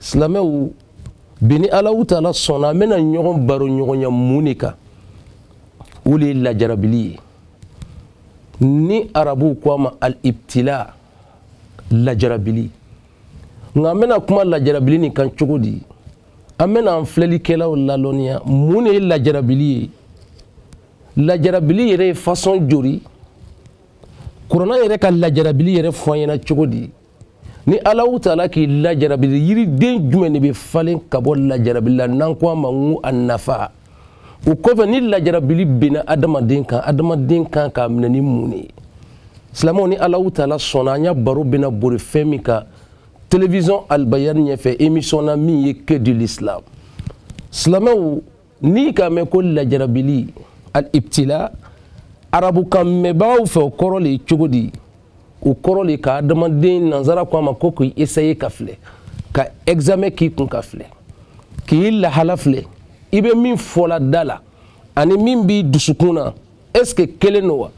silamɛw bi ni alahu taala sɔnna an bɛna ɲɔgɔn baro ɲɔgɔnya mun de kan o de ye lajarabili ye ni arabuw ko a ma al ibtila lajarabili nka an bɛna kuma lajarabili nin kan cogo di an bɛna an filɛlikɛlaw lalɔnniya mun de ye lajarabili ye lajarabili yɛrɛ ye fasɔn jori kuranɛ yɛrɛ ka lajarabili yɛrɛ fɔ an ɲɛna cogo di ni alahu taala k'i lajarabili yiriden jumɛn de bɛ falen ka bɔ lajarabili la n'an ko a ma ko a nafa o kɔfɛ ni lajarabili benna adamaden kan adamaden kan k'a minɛ ni mun de ye silamɛw ni alahu taala sɔnna an ya baro bɛna bori fɛn min kan television albayani ɲɛfɛ emission na min ye que dit l'islam silamɛw n'i k'a mɛn ko lajarabili al ibtila arabukan mɛnbagaw fɛ o kɔrɔ de ye cogo di o kɔrɔ de ka adamaden nanzara ko a ma ko k'i esaye ka filɛ ka examen k'i kun ka filɛ k'i lahala filɛ i bɛ min fɔla da la ani min b'i dusukun na est ce que kelen don wa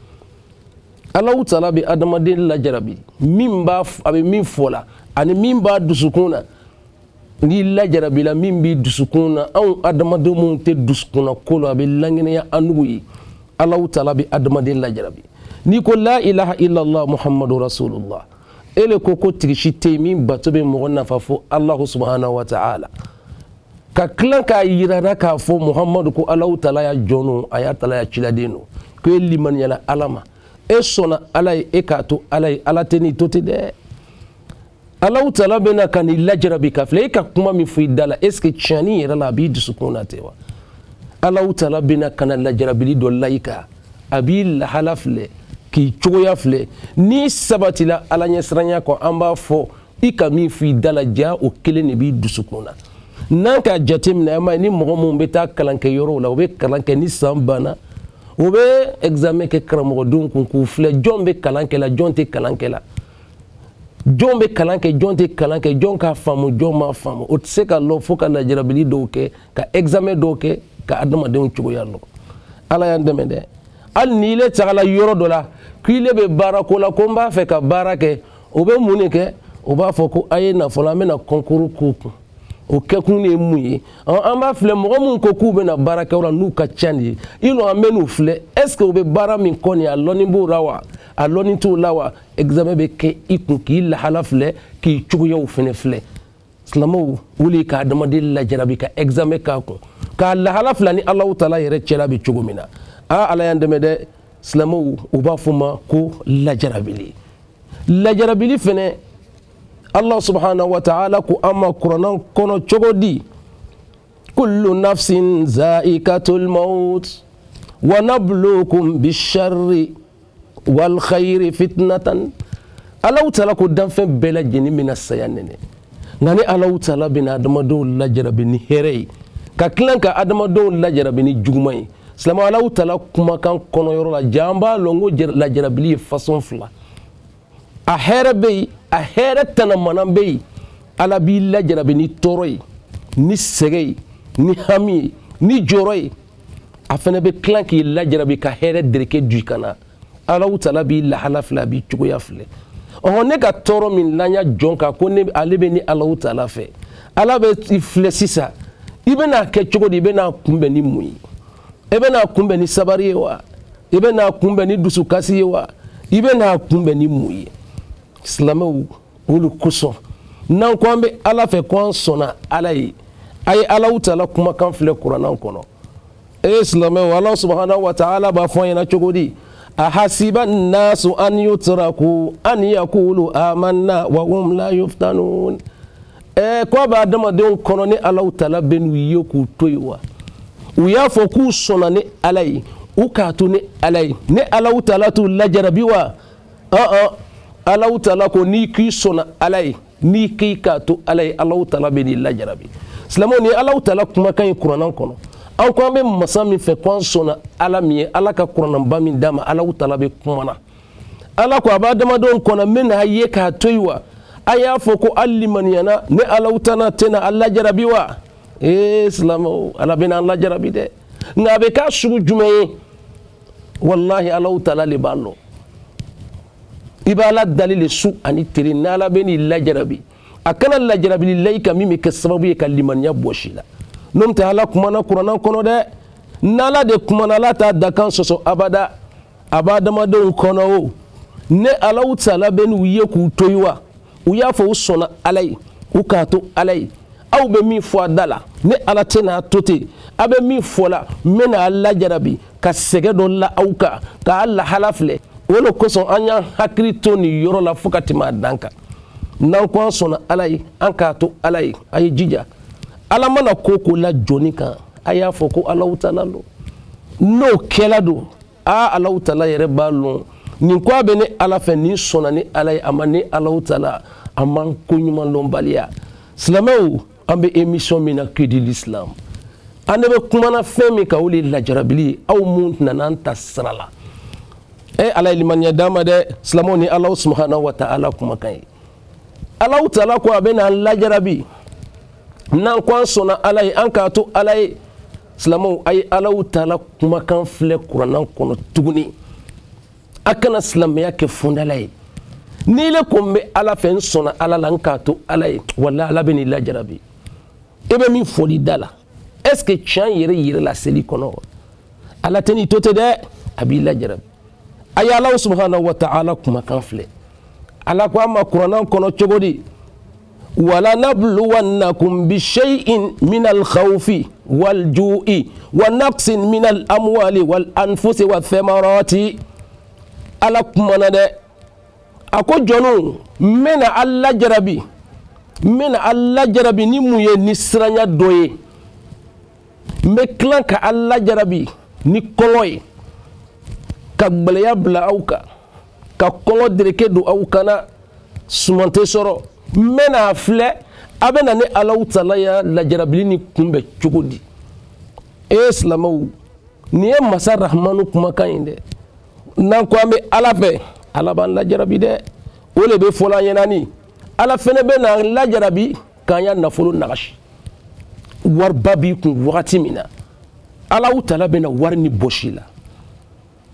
alahu taala bɛ adamaden lajarabi min b'a a bɛ min fɔ la ani min b'a dusukun na n'i lajarabila min b'i dusukun na anw adamaden minnu tɛ dusukunnako lɔ a bɛ lankɛnɛya anw ye alahu taala bɛ adamaden lajarabi n'i ko la ilaha illallah muhammadu rasulullah e le ko ko tigi si tɛ yen min bato bɛ mɔgɔ nafa fo alahu subahana wa taala ka tila k'a yirara k'a fɔ muhammadu ko alahu taala ya jɔn don a y'a taala ya ciladen don ko e limaniyala ala ma e sɔnna ala ye e k'a to ala ye ala tɛn'i to ten dɛ alahu taala bɛna ka n'i lajarabi ka filɛ e ka kuma min fɔ i da la est ce que tiɲɛni yɛrɛ la a b'i dusukun na ten wa alahu taala bɛna ka na lajarabili dɔ la i kan a b'i lahala filɛ k'i cogoya filɛ n'i sabatila ala ɲɛsiranya kɔ an b'a fɔ i ka min fɔ i da la ja o kelen de b'i dusukun na n'an k'a jateminɛ an b'a ye ni mɔgɔ minnu bɛ taa kalan kɛ yɔrɔw la u bɛ kalan kɛ ni san banna u bɛ examen kɛ karamɔgɔdenw kun k'u filɛ jɔn bɛ kalan kɛ la jɔn tɛ kalan kɛ la jɔn bɛ kalan kɛ jɔn tɛ kalan kɛ jɔn k'a faamu jɔn m'a faamu o tɛ se ka lɔ fo ka lajarabili dɔw kɛ ka examen dɔw kɛ ka adamadenw cogoya lɔ ala y'an dɛmɛ dɛ hali ni ile tagala yɔrɔ dɔ la ko ile bɛ baara ko la ko n b'a fɛ ka baara kɛ o bɛ mun de kɛ o b'a fɔ ko a ye na fɔlɔ an bɛna kɔnkuru k'u kun o kɛkun de ye mun ye an b'a filɛ mɔgɔ minnu ko k'u bɛna baara kɛ o la n'u ka ca de ye i lɔ an bɛn'u filɛ est ce que u bɛ baara min kɔ nin a lɔni b'o la wa a lɔni t'o la wa examen bɛ kɛ i kun k'i lahala filɛ k'i cogoyaw fana filɛ silamɛw o le ye ka adamaden lajarabi ka examen k'a kun k'a lahala filɛ a ni Alahu taala yɛrɛ cɛla bɛ cogo min na aa Ala y'an dɛmɛ dɛ silamɛw u b'a fɔ o ma ko lajarabili lajarabili fana Alahu subahana wataala ko an ma kuranɛ kɔnɔ cogo di kullu nafsin zaikatul maut wa nabluukum bisharri wal khayri fitnatan Alahu taala ko danfɛn bɛɛ lajɛlen bɛna saya nɛnɛ nka ne Alahu taala bɛna adamadenw lajarabi ni hɛrɛ ye ka tila ka adamadenw lajarabi ni juguman ye silamɛw Alahu taala kumakan kɔnɔyɔrɔ la jaa an b'a lɔn ko lajarabili ye fasɔn fila a hɛrɛ bɛ yen a hɛrɛ tanamana bɛ yen ala b'i lajarabi ni tɔɔrɔ ye ni sɛgɛ ye ni hami ye ni jɔrɔ ye a fana bɛ tila k'i lajarabi ka hɛrɛ dereke don i kan na Alahu taala b'i lahala filɛ a b'i cogoya filɛ ɔhɔ ne ka tɔɔrɔ min la n ya jɔn kan ko ale bɛ ne Alahu taala fɛ ala bɛ i filɛ sisan i bɛna kɛ cogo di i bɛ n'a kunbɛn ni mun ye e bɛ n'a kunbɛn ni sabari ye wa i bɛ n'a kunbɛn ni dusukasi ye wa i bɛ n'a kunbɛn ni mun ye silamɛw o le kosɔn n'an ko an bɛ ala fɛ ko an sɔnna ala ye a ye Alahu taala kumakan filɛ kuranɛ kɔnɔ ee silamɛw ala subahana wataala b'a fɔ an ɲɛna cogo di a hasiba nasu an yutaraku an yakulu amanna wa hum la yuftanun ɛɛ ko a bɛ adamadenw kɔnɔ ne Alahu taala bɛ n'u ye k'u to yen wa u y'a fɔ k'u sɔnna ne ala ye u k'a to ne ala ye ne Alahu taala t'u lajarabi wa ɔn Alahu taala ko n'i k'i sɔnna ala ye n'i k'i k'a to ala ye Alahu taala bɛ n'i lajarabi silamɛw nin Alahu taala kumakan ye kuranɛ kɔnɔ an ko an bɛ masa min fɛ ko an sɔnna ala min ye ala ka kuranɛba min d'an ma Alahu taala bɛ kuma na ala ko a b'adamadenw kɔnɔ n bɛna a ye k'a to yen wa a y'a fɔ ko a limaniyana ne Alahu taala tɛna a lajarabi wa ee silamɛw ala bɛna an lajarabi dɛ nka a bɛ k'a sugu jumɛn ye walahi Alahu taala de b'a lɔn i b'ala dali le su ani tere n'ala bɛ n'i lajarabi a kana lajarabili la i kan min bɛ kɛ sababu ye ka limaniya bɔs'i la n'o tɛ ala kumana kuranɛ kɔnɔ dɛ n'ala de kumana ala t'a dakan sɔsɔ abada a b'adamadenw kɔnɔ o ne Alahu taala bɛ n'u ye k'u to yen wa u y'a fɔ u sɔnna ala ye u k'a to ala ye aw bɛ min fɔ a da la ne ala tɛ n'a to ten aw bɛ min fɔ la n bɛ n'a lajarabi ka sɛgɛ dɔ la aw kan k'a lahala filɛ o de kosɔn an y'an hakili to nin yɔrɔ la fo ka tɛmɛ a dan kan n'an ko an sɔnna ala ye an k'a to ala ye a ye jija ala mana ko o ko la jɔni kan a y'a fɔ ko Alahu taala don n'o kɛla don aa alahu taala yɛrɛ b'a lɔn nin ko a bɛ ne ala fɛ ni sɔnna ne ala ye a ma ne alahu taala a man ko ɲuman dɔnbaliya silamɛw an bɛ émission min na que dit l'islam an ne bɛ kumana fɛn min kan o de ye lajarabili ye aw minnu nana an ta sira la e ala ye limaniya d'an ma dɛ silamɛw nin alahu subhanahu wa taala kumakan ye alahu taala ko a bɛ n'an lajarabi n'an ko an sɔnna ala ye an k'a to ala ye silamɛw a ye alahu taala kumakan filɛ kurannan kɔnɔ tuguni a kana silamɛya kɛ fɔndala ye n'i le ko n bɛ ala fɛ n sɔnna ala la n k'a to ala ye wala ala bɛ n'i lajarabi i bɛ min fɔl'i da la est ce que tiɲɛ yɛrɛ yɛrɛ la a sel'i kɔnɔ wa ala tɛ n'i to ten dɛ a b'i lajarabi a ye alahu subhanahu wa taala kumakan filɛ ala ko an ma kurannan kɔnɔ cogo di wa lanabluwannakum bi shay'in min al khawfi wal ju'i wa naqsin min al amwali wal anfusi wa thamarati ala kumana dɛ a ko jɔnw n bɛna a lajarabi n bɛna a lajarabi ni mun ye ni siranya dɔ ye n bɛ tila ka a lajarabi ni kɔngɔ ye ka gbɛlɛya bila aw kan ka kɔngɔ dereke don aw kan na suman tɛ sɔrɔ n bɛ n'a filɛ a bɛ na ne alahu taala ya lajarabili nin kunbɛn cogo di e ye silamɛw nin ye masa rahamanu kumakan ye dɛ n'an ko an bɛ ala fɛ ala b'an lajarabi dɛ o de bɛ fɔla an ɲɛna nin ala fɛnɛ bɛ n'an lajarabi k'an ya nafolo nagasi wariba b'i kun wagati min na alahu taala bɛna wari nin bɔs'i la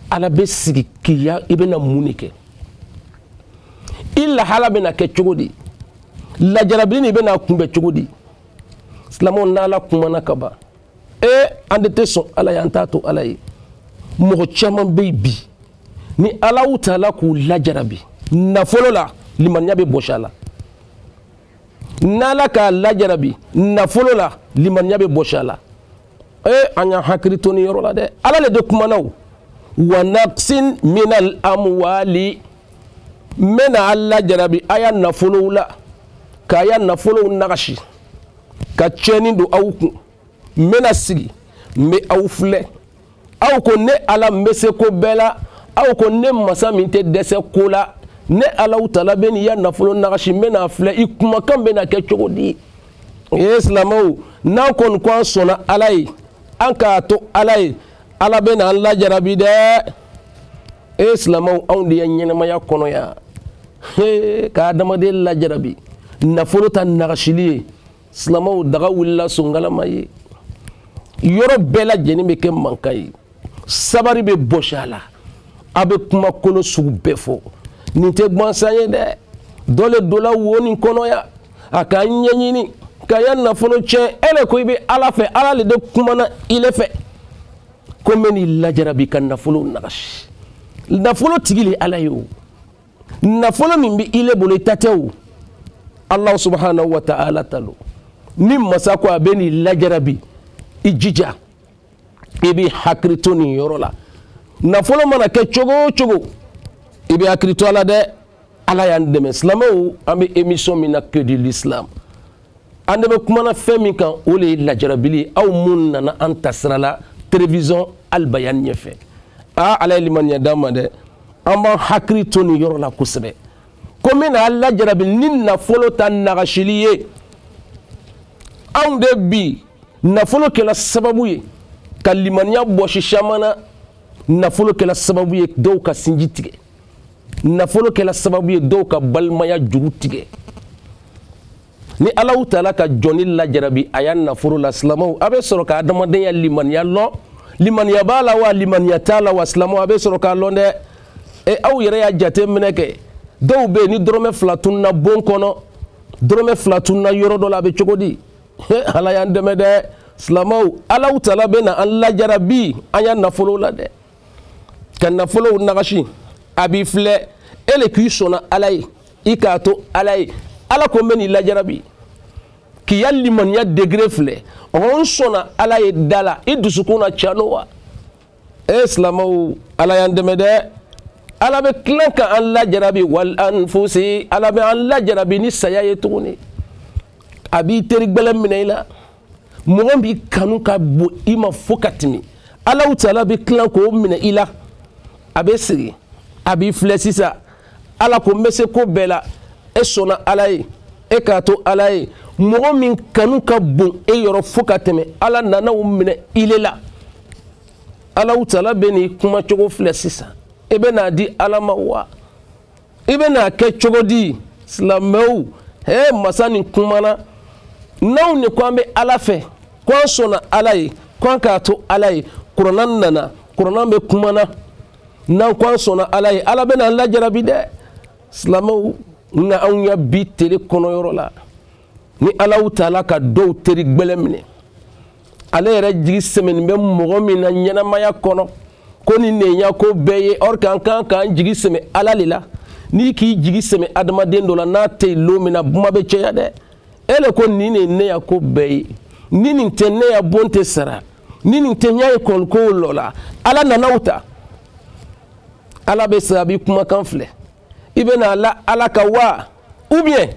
ala bɛ sigi k'i ya i bɛna mun de kɛ i lahala bɛna kɛ cogo di lajarabili nin i bɛna kunbɛn cogo di silamɛw n'ala kumana ka ban ee an de tɛ sɔn ala ye an t'a to ala ye mɔgɔ caman bɛ yen bi ni alahu taala k'u lajarabi nafolo la limaniya bɛ bɔsi a la n'ala k'a lajarabi nafolo la limaniya bɛ bɔsi a la ee an y'an hakili to nin yɔrɔ la dɛ ala le de kumana o wa naqsin min al amwali n bɛna a lajarabi a ya nafolow la k'a ya nafolow nagasi ka tiɲɛni don aw kun n bɛna sigi n bɛ aw filɛ aw ko ne ala n bɛ se ko bɛɛ la aw ko ne masa min tɛ dɛsɛ ko la ne alahu taala bɛ n'i ya nafolo nagasi n bɛ n'a filɛ i kumakan bɛna kɛ cogo di o ye silamɛw n'an kɔni ko an sɔnna ala ye an k'a to ala ye ala bɛ na an lajarabi dɛ e ye silamɛw anw de ye ɲɛnamaya kɔnɔ yan ka adamaden lajarabi nafolo ta nagasili ye silamɛw daga wulila sonkalama ye yɔrɔ bɛɛ lajɛlen bɛ kɛ mankan ye sabari bɛ bɔsi a la a bɛ kuma kolon sugu bɛɛ fɔ nin tɛ gbansan ye dɛ dɔ le donna wo nin kɔnɔ yan a k'a ɲɛɲini k'a ya nafolo tiɲɛ e le ko i bɛ ala fɛ ala le de kumana i le fɛ ko n bɛ n'i lajarabi ka nafolo nagasi nafolo tigi le ala ye o nafolo min bɛ i le bolo i ta tɛ o alahu subahanahu wa taala ta lo ni masa ko a bɛ n'i lajarabi i jija i bɛ hakili to nin yɔrɔ la nafolo mana kɛ cogo o cogo i bɛ hakili to a la dɛ ala y'an dɛmɛ silamɛw an bɛ emisɔn min na cœur de l'islam an de bɛ kumana fɛn min kan o le ye lajarabili aw minnu nana an tasira la telewisɔn alibayan ɲɛfɛ aa ala ye limaniya d'an ma dɛ an b'an hakili to nin yɔrɔ la kosɛbɛ ko n bɛna a lajarabi ni nafolo ta nagasili ye anw de bi nafolo kɛla sababu ye ka limaniya bɔsi caman na nafolo kɛla sababu ye dɔw ka sinji tigɛ nafolo kɛla sababu ye dɔw ka balimaya juru tigɛ ni alahu taala ka jɔni lajarabi a ya nafolo la silamaw a bɛ sɔrɔ ka adamaden ya limaniya lɔn limaniya b'a la wa limaniya t'a la wa silamaw a bɛ sɔrɔ k'a lɔn dɛ e aw yɛrɛ y'a jate minɛ kɛ dɔw bɛ yen ni dɔrɔmɛ fila tununna bon kɔnɔ dɔrɔmɛ fila tununna yɔrɔ dɔ la a bɛ cogo di ala y'an dɛmɛ dɛ silamaw alahu taala bɛna an lajarabi an ya nafolo la dɛ ka nafolow nagasi a b'i filɛ e le k'i sɔnna ala ye i k'a to ala ye ala ko n bɛ n'i lajarabi k'i ya limaniya degré filɛ ɔɔ n sɔnna ala ye da la i dusukun na can lo wa e silamaw ala y'an dɛmɛ dɛ ala bɛ tilan ka an lajarabi wal anfusi ala bɛ an lajarabi ni saya ye tuguni a b'i teri gbɛlɛn minɛ i la mɔgɔ min kanu ka bon i ma fo ka tɛmɛ alahu taala bɛ tila k'o minɛ i la a bɛ sigi a b'i filɛ sisan ala ko n bɛ se ko bɛɛ la e sɔnna ala ye e k'a to ala ye mɔgɔ min kanu ka bon e yɔrɔ fo ka tɛmɛ ala nana o minɛ i le la alahu taala bɛ n'i kuma cogo filɛ sisan e bɛ n'a di ala ma wa i bɛna a kɛ cogo di silamɛw he masa nin kumana n'anw ne ko an bɛ ala fɛ ko an sɔnna ala ye ko an k'a to ala ye kurana nana kurana bɛ kumana n'an ko an sɔnna ala ye ala bɛna an lajarabi dɛ silamɛw nka anw ya bi tele kɔnɔ yɔrɔ la ni alahu taala ka dɔw teri gbɛlɛ minɛ ale yɛrɛ jigi sɛmɛnin bɛ mɔgɔ min na ɲɛnamaya kɔnɔ ko nin de n ya ko bɛɛ ye or k'an kan k'an jigi sɛmɛ ala le la n'i k'i jigi sɛmɛ adamaden dɔ la n'a tɛ yen lon min na kuma bɛ cɛya dɛ e le ko nin de ye ne ya ko bɛɛ ye ni nin tɛ ne ya bon tɛ sara ni nin tɛ n ya ekɔlikow lɔla ala nana o ta ala bɛ sababi kumakan filɛ i bɛna la ala ka wa ou bien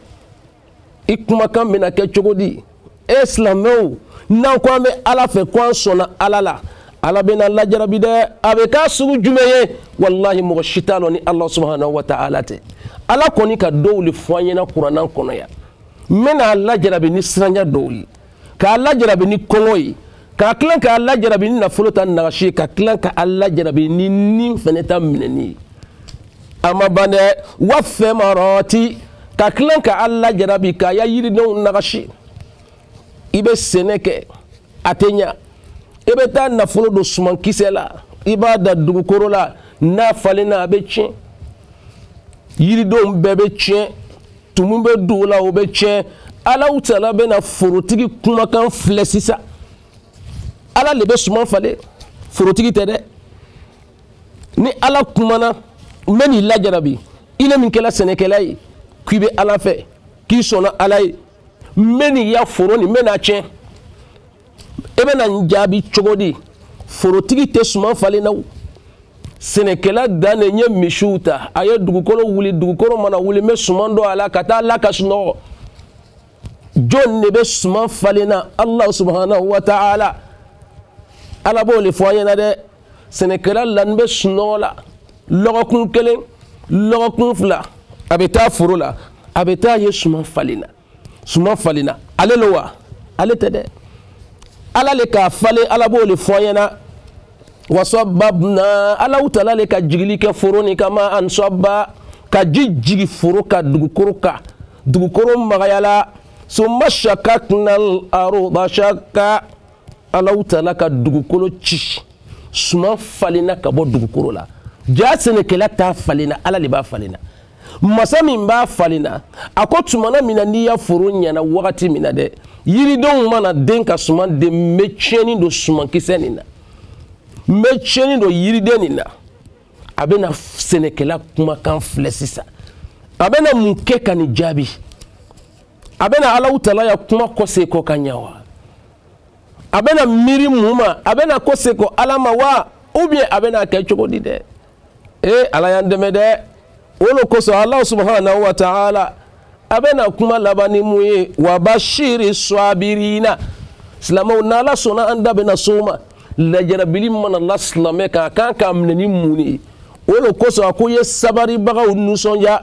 i kumakan bɛna kɛ cogo di e silamɛw n'an ko an bɛ ala fɛ ko an sɔnna ala la ala bɛn'a lajarabi dɛ a bɛ k'a sugu jumɛn ye walahi mɔgɔ si t'a lɔn ni ala subahana wa taala tɛ ala kɔni ka dɔw le fɔ an ɲɛna kurana kɔnɔ yan n bɛn'a lajarabi ni siranya dɔw ye k'a lajarabi ni kɔngɔ ye ka tila k'a lajarabi ni nafolo ta nagasi ye ka tila ka a lajarabi ni ni fana ta minɛni ye a ma ban dɛ wa samarati ka tila ka a lajarabi k'a ya yiridenw nagasi i bɛ sɛnɛ kɛ a tɛ ɲa i bɛ taa nafolo don sumankisɛ la i b'a da dugukolo la n'a falenna a bɛ tiɲɛ yiridenw bɛɛ bɛ tiɲɛ tumu bɛ don o la o bɛ tiɲɛ alahu taala bɛna forotigi kumakan filɛ sisan ala le bɛ suman falen forotigi tɛ dɛ ni ala kumana n bɛn'i lajarabi ile min kɛla sɛnɛkɛla ye k'i bɛ ala fɛ k'i sɔnna ala ye n bɛn'i ya foro nin n bɛn'a tiɲɛ e bɛna n jaabi cogo di forotigi tɛ suman falen na sɛnɛkɛla dan de n ye misiw ta a ye dugukolo wuli dugukolo mana wuli n bɛ suman don a la ka taa la ka sunɔgɔ jɔn de bɛ suman falen na ala subahana wa taala ala b'o le fɔ an ɲɛna dɛ sɛnɛkɛla lanin bɛ sunɔgɔ la lɔgɔkun kelen lɔgɔkun fila a bɛ taa foro la a bɛ taa a ye suman falenna suman falenna ale lo wa ale tɛ dɛ ala le k'a falen ala b'o le fɔ an ɲɛna wa sɔbabna alahu taala le ka jigili kɛ foro nin kama an sɔba ka ji jigi foro kan dugukoro kan dugukoro magayala summa shakakna al arda shaka alahu taala ka dugukolo ci suman falenna ka bɔ dugukolo la jaa sɛnɛkɛla t'a falenna ala le b'a falenna masa min b'a falenna a ko tumana min na n'i ya foro ɲɛna wagati min na dɛ yiridenw mana den ka suman den n bɛ tiɲɛni don sumankisɛ nin na n bɛ tiɲɛni don yiriden nin na a bɛna sɛnɛkɛla kumakan filɛ sisan a bɛna mun kɛ ka nin jaabi a bɛna alaw taala ya kuma kɔsegi ka ɲa wa a bɛna miiri mun ma a bɛna kɔsegi ala ma wa ou bien a bɛna kɛ cogo di dɛ ee ala y'an dɛmɛ dɛ o lo kosɔn ala subahana wa taala a bɛna kuma laban ni mun ye wa bashiri swabirina silamɛw n'ala sɔnna an da bɛna s'o ma lajarabili mana la silamɛ kan a kan k'a minɛ ni mun de ye o lo kosɔn a ko ye sabaribagaw nisɔndiya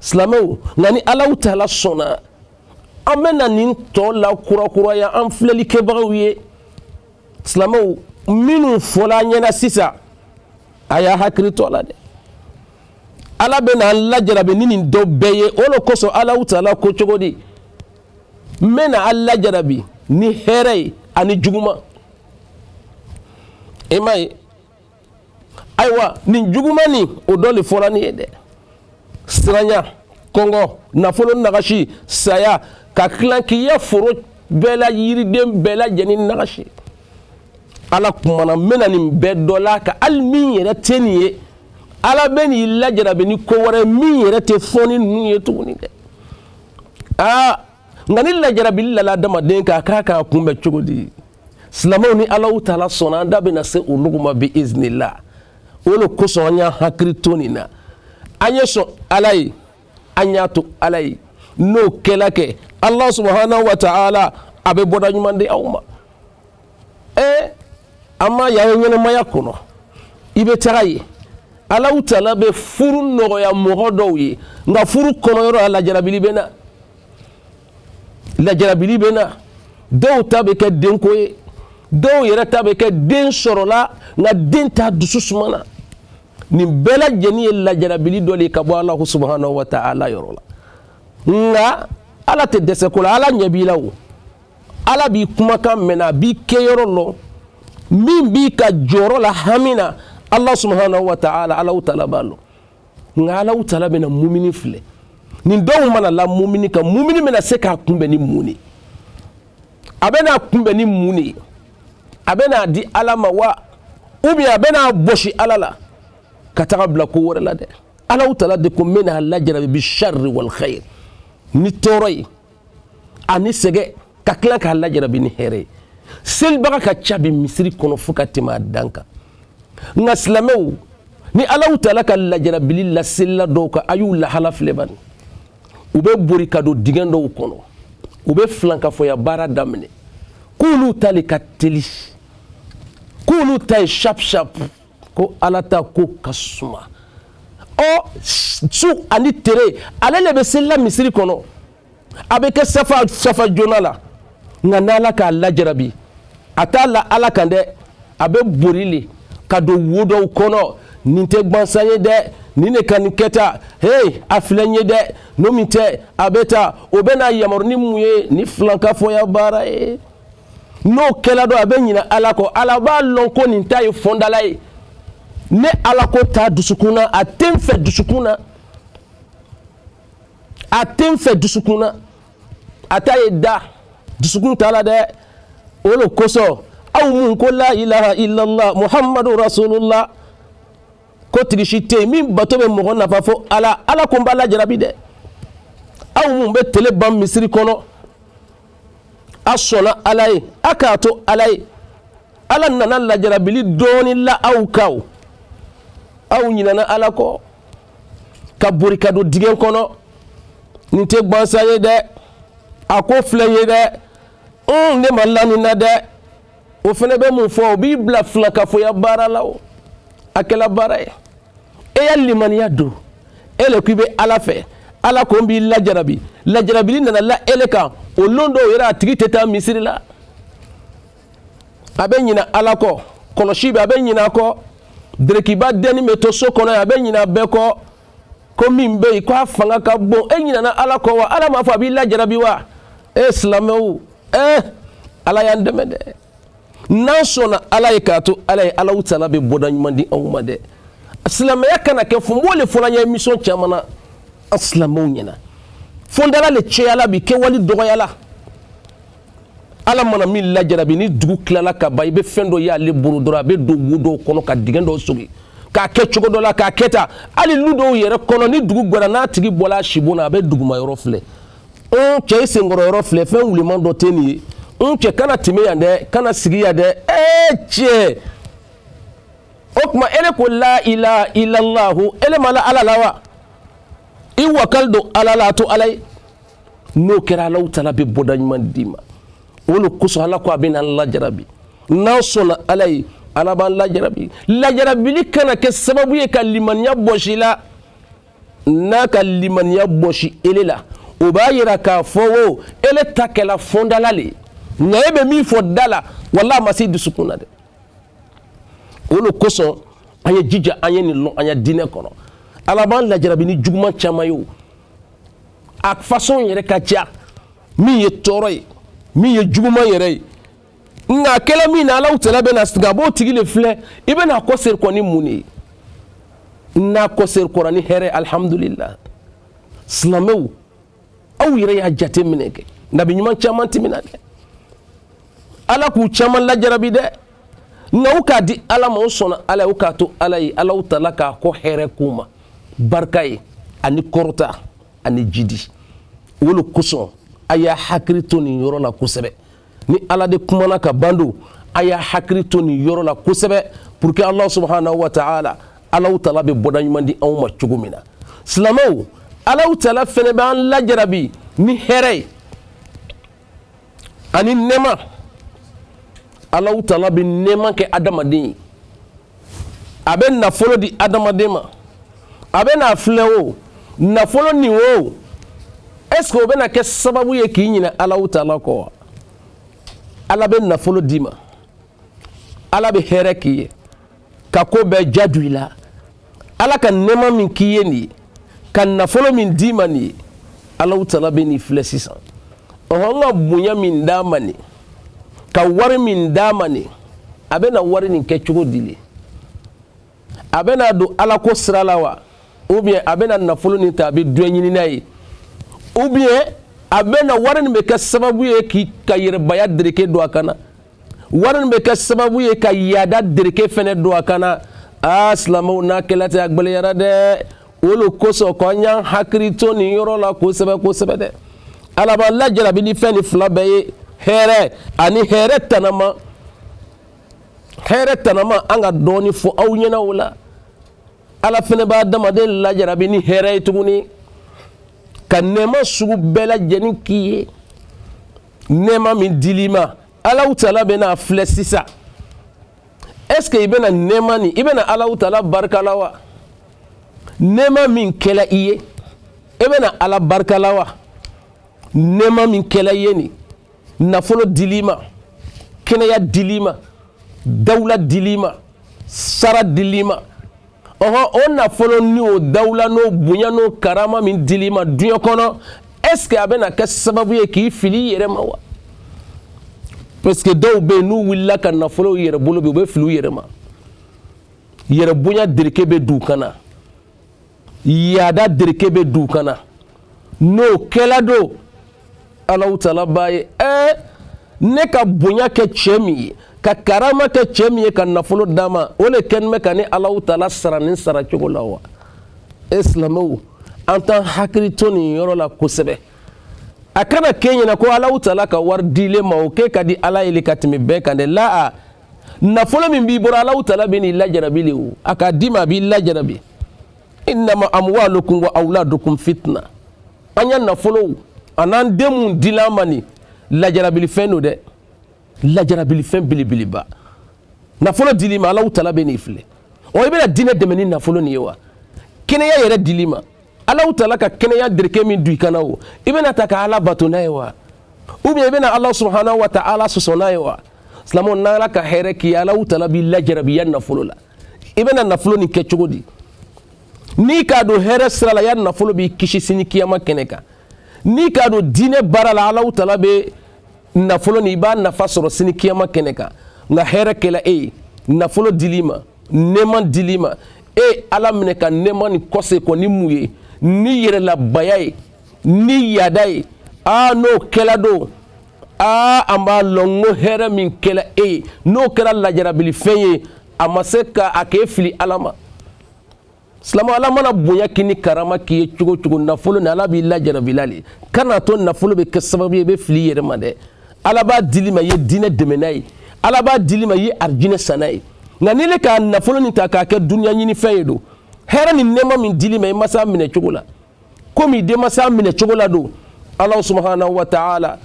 silamɛw nka ni ala taala sɔnna an bɛ na nin tɔ lakurakuraya an filɛli kɛbagaw ye silamɛw minnu fɔla an ɲɛna sisan a y'a hakili to a la dɛ ala bɛ na an lajarabi ni nin dɔ bɛɛ ye o le kosɔn ala taala ko cogo di n bɛ na aw lajarabi ni hɛrɛ ye ani juguman i m'a ye ayiwa nin juguman nin o dɔ le fɔra nin ye dɛ siranya kɔngɔ nafolo nagasi saya ka tilan k'i ya foro bɛɛ la yiriden bɛɛ lajɛlen nagasi ala kumana n bɛna nin bɛɛ dɔ la a kan hali min yɛrɛ tɛ nin ye ala bɛ n'i lajarabi ni ko wɛrɛ min yɛrɛ tɛ fɔlen ninnu ye tuguni dɛ aa nka ni lajarabili lala adamaden kan a kan k'a kunbɛn cogo di silamɛw ni alaw taala sɔnna an da bɛna se olugu ma bi iznila o le kosɔn an y'an hakili to nin na an ye sɔn ala ye an y'a to ala ye n'o kɛla kɛ ala subahana wa taala a bɛ bɔda ɲuman di aw ma ee an m'a y'an ya ɲɛnamaya kɔnɔ i bɛ taga a ye alaw taala bɛ furu nɔgɔya mɔgɔ dɔw ye nka furu kɔnɔyɔrɔ a lajarabili bɛ na lajarabili bɛ na dɔw ta bɛ kɛ denko ye dɔw yɛrɛ ta bɛ kɛ den sɔrɔla nka den t'a dusu suma na nin bɛɛ lajɛlen ye lajarabili dɔ le ka bɔ ala subahana wa taala yɔrɔ la nka ala tɛ dɛsɛ ko la ala ɲɛ b'i la o ala b'i kumakan mɛn a b'i kɛyɔrɔ lɔn min b'i ka jɔrɔ la hami na ala subahana wa taala alaw taala b'a lɔn nka ala taala bɛna mumini filɛ nin dɔw mana la mumini kan mumini bɛna se k'a kunbɛn ni mun ye a bɛ n'a kunbɛn ni mun de ye a bɛ n'a di ala ma wa ou bien a bɛ n'a bosi ala la ka taga a bila ko wɛrɛ la dɛ ala taala de ko n bɛna a lajarabi bi shari wali kayiri ni tɔɔrɔ ye ani sɛgɛ ka tila k'a lajarabi ni hɛrɛ ye selibaga ka ca bi misiri kɔnɔ fo ka tɛmɛ a dan kan nka silamɛw ni alaw taala ka lajarabili la selila dɔw kan a y'u lahala filɛ bani u bɛ bori ka don dingɛ dɔw kɔnɔ u bɛ filankafoya baara daminɛ k'olu ta le ka teli k'olu ta ye shap shap ko ala ta ko ka suma o su ani tere ale le bɛ selila misiri kɔnɔ a bɛ kɛ safa safa joona la nka n'ala k'a lajarabi a t'a la ala kan dɛ a bɛ bori le ka don wo dɔw kɔnɔ nin tɛ gbansan ye dɛ nin ne ka nin kɛta hey a filɛ n ye dɛ n'o min tɛ a bɛ ta o bɛna yamaru ni mun ye ni filankafoya baara ye n'o kɛla don a bɛ ɲina ala kɔ ala b'a lɔn ko nin ta ye fɔndala ye ne ala ko t'a dusukun na a tɛ n fɛ dusukun na a tɛ n fɛ dusukun na a ta ye da dusukun t'a la dɛ o le kosɔn aw minnu ko la ilaha illallah muhamadu rasulullah ko tigi si tɛ yen min bato bɛ mɔgɔ nafa fo ala ala ko n b'a lajarabi dɛ aw minnu bɛ tele ban misiri kɔnɔ a sɔnna ala ye a k'a to ala ye ala nana lajarabili dɔɔni la aw kan aw ɲinana ala kɔ ka bori ka don dingɛ kɔnɔ nin tɛ gbansan ye dɛ a ko filɛ n ye dɛ n ne ma la nin na dɛ o fɛnɛ bɛ mun fɔ o b'i bila filankafoya baara la o a kɛla baara ye e ya limaniya don e le ko i bɛ ala fɛ ala ko n b'i lajarabi lajarabili nana la ele kan o lon dɔw yɛrɛ a tigi tɛ taa misiri la a bɛ ɲina ala kɔ kɔlɔsi bɛɛ a bɛ ɲina a kɔ derekiba dɛnni bɛ to so kɔnɔ a bɛ ɲina bɛɛ kɔ ko min bɛ yen k'a fanga ka bon e ɲinana ala kɔ wa ala m'a fɔ a b'i lajarabi wa e silamɛw eh ala y'an dɛmɛ dɛ n'an sɔnna ala ye k'a to ala ye alahu tala bɛ bɔda ɲuman di anw ma dɛ silamɛya kana kɛ fɔ n b'o le fɔla n ya émission caman na an silamɛw ɲɛna fɔndala le cɛyala bi kɛwali dɔgɔyala ala mana min lajarabi ni dugu tilala ka ban i bɛ fɛn dɔ y'ale bolo dɔrɔn a bɛ don wo dɔw kɔnɔ ka dingɛ dɔw sogi k'a kɛ cogo dɔ la k'a kɛ ta hali lu dɔw yɛrɛ kɔnɔ ni dugu gwɛra n'a tigi bɔla a sibon na a bɛ duguma yɔrɔ filɛ n cɛ i senkɔrɔ yɔrɔ filɛ fɛn wuliman dɔ tɛ nin ye n cɛ kana tɛmɛ yan dɛ kana sigi yan dɛ ee cɛ o tuma ele ko la ilaha illallahu ele ma la ala la wa i wakali don ala la a to ala ye n'o kɛra alahu tala bɛ bɔda ɲuman d'i ma o le kosɔn ala ko a bɛn'an lajarabi n'an sɔnna ala ye ala b'an lajarabi lajarabili kana kɛ sababu ye ka limaniya bɔsi i la n'a ka limaniya bɔsi ele la o b'a yira k'a fɔ o ele ta kɛla fɔndala le ye nka e bɛ min fɔ da la wala a ma se dusukun na dɛ o le kosɔn an y'an jija an ye nin lɔn an ya diinɛ kɔnɔ ala b'an lajarabi ni juguman caman ye o a façon yɛrɛ ka ca min ye tɔɔrɔ ye min ye juguman yɛrɛ ye nka a kɛla min na alaw tala bɛna sigi a b'o tigi le filɛ i bɛna kɔ seri kɔ ni mun de ye n'a kɔ seri kɔra ni hɛrɛ alihamudulila silamɛw aw yɛrɛ y'a jate minɛ kɛ nabi ɲuman caman tɛmɛna dɛ ala k'u caman lajarabi dɛ nka u k'a di ala ma u sɔnna ala ye u k'a to ala ye ala tala k'a kɔ hɛrɛ k'u ma barika ye ani kɔrɔta ani jidi o le kosɔn a y'a hakili to nin yɔrɔ la kosɛbɛ ni ala de kumana ka ban don a y'a hakili to nin yɔrɔ la kosɛbɛ pour que ala subahanahu wa taala alaw tala bɛ bɔda ɲuman di anw ma cogo min na silamɛw alaw tala fɛnɛ b'an lajarabi ni hɛrɛ ye ani nɛɛma ala tala bɛ nɛɛma kɛ adamaden ye a bɛ nafolo di adamaden ma a bɛn'a filɛ o nafolo nin o est ce que o bɛna kɛ sababu ye k'i ɲinɛ ala tala kɔ wa ala bɛ nafolo d'i ma ala bɛ hɛrɛ k'i ye ka ko bɛɛ diya don i la ala ka nɛɛma min k'i ye nin ye ka nafolo min d'i ma nin ye alaw tala bɛ nin filɛ sisan ɔhɔn ka bonya min d'a ma nin ka wari min d'a ma nin a bɛna wari nin kɛ cogo di le a bɛn'a don ala ko sira la wa ou bien a bɛna nafolo nin ta a bɛ duɲɛ ɲini n'a ye ou bien a bɛna wari nin bɛ kɛ sababu ye k'i ka yɛrɛbaya dereke don a kan na wari nin bɛ kɛ sababu ye ka yaada dereke fɛnɛ don a kan na aa silamɛw n'a kɛla ten a gbɛlɛyara dɛ o le kosɔn ko an y'an hakili to nin yɔrɔ la kosɛbɛ kosɛbɛ dɛ ala b'an lajarabi ni fɛn nin fila bɛɛ ye hɛrɛ ani hɛrɛ tanama hɛrɛ tanama an ka dɔɔnin fɔ aw ɲɛna o la ala fɛnɛ b'adamaden lajarabi ni hɛrɛ ye tuguni ka nɛɛma sugu bɛɛ lajɛlen k'i ye nɛɛma min dil'i ma alaw tala bɛna a filɛ sisan est ce que i bɛna nɛɛma nin i bɛna alaw tala barika la wa nɛɛma min kɛla i ye i bɛna ala barika la wa nɛɛma min kɛla i ye nin nafolo dil'i ma kɛnɛya dil'i ma dawula dil'i ma sara dil'i ma ɔhɔn o nafolo ni o dawula n'o bonya n'o karama min dil'i ma duɲɛ kɔnɔ est ce que a bɛna kɛ sababu ye k'i fili i yɛrɛ ma wa parce que dɔw bɛ yen n'u wulila ka nafolo u yɛrɛ bolo bi u bɛ fili u yɛrɛ ma yɛrɛbonya dereke bɛ d'u kan na yaada dereke bɛ don kan na n'o kɛla don alahu taala b'a ye ɛɛ ne ka bonya kɛ cɛ min ye ka karama kɛ cɛ min ye ka nafolo d'a ma o le kɛlen bɛ ka ne alahu taala sara nin sara cogo la wa e silamɛw an t'an hakili to nin yɔrɔ la kosɛbɛ a kana k'i ɲɛ na ko alahu taala ka wari d'i le ma o k'e ka di ala ye le ka tɛmɛ bɛɛ kan dɛ laa nafolo min b'i bolo alahu taala bɛn'i lajarabi le o a k'a d'i ma a b'i lajarabi innama amwalukum wa awladukum fitna an ya nafolow an'an den mun dila an ma nin lajarabilifɛn don dɛ lajarabilifɛn belebeleba nafolo dil'i ma alahu taala bɛn'i filɛ ɔ i bɛna diinɛ dɛmɛ ni nafolo nin ye wa kɛnɛya yɛrɛ dil'i ma alahu taala ka kɛnɛya dereke min don i kan na o i bɛn'a ta ka ala bato n'a ye wa ou bien i bɛna ala subahana wa taala sɔsɔ n'a ye wa silamɛw n'ala ka hɛrɛ k'i alahu taala b'i lajarabi ya nafolo la i bɛna nafolo nin kɛ cogo di n'i k'a don hɛrɛ sira la ya nafolo b'i kisi sini kiyama kɛnɛ kan n'i k'a don diinɛ baara la alahu taala bɛ nafolo nin i b'a nafa sɔrɔ sini kiyama kɛnɛ kan nka hɛrɛ kɛla e ye nafolo dil'i ma nɛɛma dil'i ma e ala minɛ ka nɛɛma nin kɔse kɔ ni mun ye ni yɛrɛlabaya ye ni yaada ye aa n'o kɛla don aa an b'a lɔn ko hɛrɛ min kɛla e ye n'o kɛra lajarabilifɛn ye a ma se ka a k'e fili ala ma silamɛ ala mana bonya k'i ni karama k'i ye cogo cogo nafolo nin ala b'i lajarabila le kana to nafolo bɛ kɛ sababu ye i bɛ fili i yɛrɛ ma dɛ ala b'a dil'i ma i ye diinɛ dɛmɛ n'a ye ala b'a dil'i ma i ye arijinɛ san n'a ye nka n'i le ka nafolo nin ta k'a kɛ duniya ɲinifɛn ye don hɛrɛ ni nɛɛma min dil'i ma i ma s'a minɛ cogo la komi den ma se a minɛ cogo la don ala subahana wa taala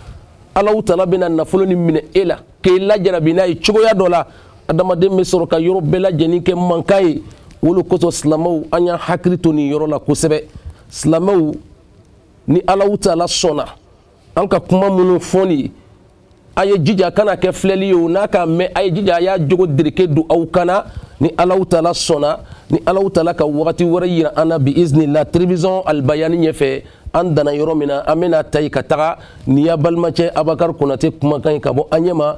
alahu taala bɛna nafolo nin minɛ e la k'e lajarabi n'a ye cogoya dɔ la adamaden bɛ sɔrɔ ka yɔrɔ bɛɛ lajɛlen kɛ mankan ye o le kosɔn silamɛw an y'an hakili to nin yɔrɔ la kosɛbɛ silamɛw ni alahu taala sɔnna an ka kuma minnu fɔli a ye jija kana kɛ filɛli ye o n'a ka mɛn a ye jija a y'a jogo dereke don aw kan na ni alahu taala sɔnna ni alahu taala ka wagati wɛrɛ yira an na bi iznila telewisɔn alibayani ɲɛfɛ an danna yɔrɔ min na an bɛn'a ta yen ka taga nin y'a balimacɛ abakari konate kumakan ye ka bɔ anyama